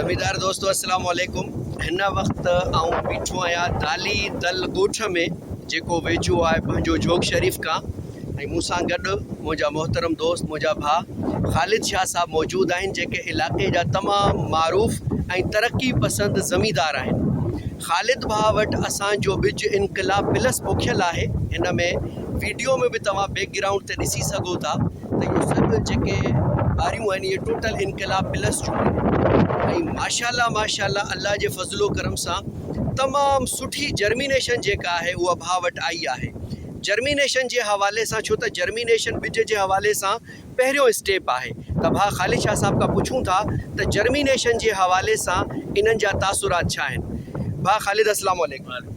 زميندار دوستو السلام عليڪم هن وقت آئون بيٺو آهيان دالي دل ڳوٺ ۾ جيڪو ويجهو آهي پنهنجو جوگ شريف کان ۽ مون سان گڏ منهنجا محترم دوست منهنجا ڀاء خالد شاهه صاحب موجود آهن جيڪي علائقي جا تمام معروف ۽ ترقي پسند زميندار آهن خالد ڀاء وٽ اسان جو ٻج انقلاب پلس پوکيل آهي هن ۾ ويڊيو ۾ به توهان بيڪ گرائونڊ تي ڏسي سگهو ٿا ته اهو سڀ جيڪي ٻاريون آهن اهي ٽوٽل انقلاب پلس جون آهن ۽ ماشاءالله ماشاءالله الله جي فضل و ڪرم سان تمام سٺي جرمينيشن جيڪا آهي اها ڀاء وٽ آئي آهي جرمينيشن جي حوالي سان ڇو ته جرمينيشن ٻج جي حوالي سان پهريون اسٽيپ آهي ته ڀاء خالد شاهه صاحب کان پڇون ٿا ته جرمينيشن جي حوالي سان انهن جا تاثرات ڇا آهن ڀاء خالد اسلام عليڪم.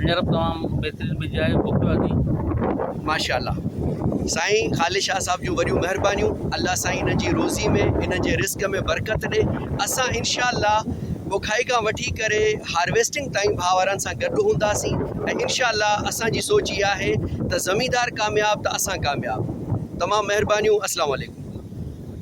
ھينئر به تمام بهترين مزي آيو ڀوڪ لڳي. ماشاءالله سائين خالد شاھ صاحب جون وڏيون مھربانيون الله سائين انھن جي روزي ۾ انھن جي رزق ۾ برڪت ڏي اسان انشاء الله پوکائي کان وٺي ڪري ھارويسٽنگ تائين ڀاء وارن سان گڏ ھونداسين ۽ انشاء الله اسان جي سوچ اھا آھي ته زميندار ڪامياب ته اسان ڪامياب تمام مھربانيون اسلام عليڪم.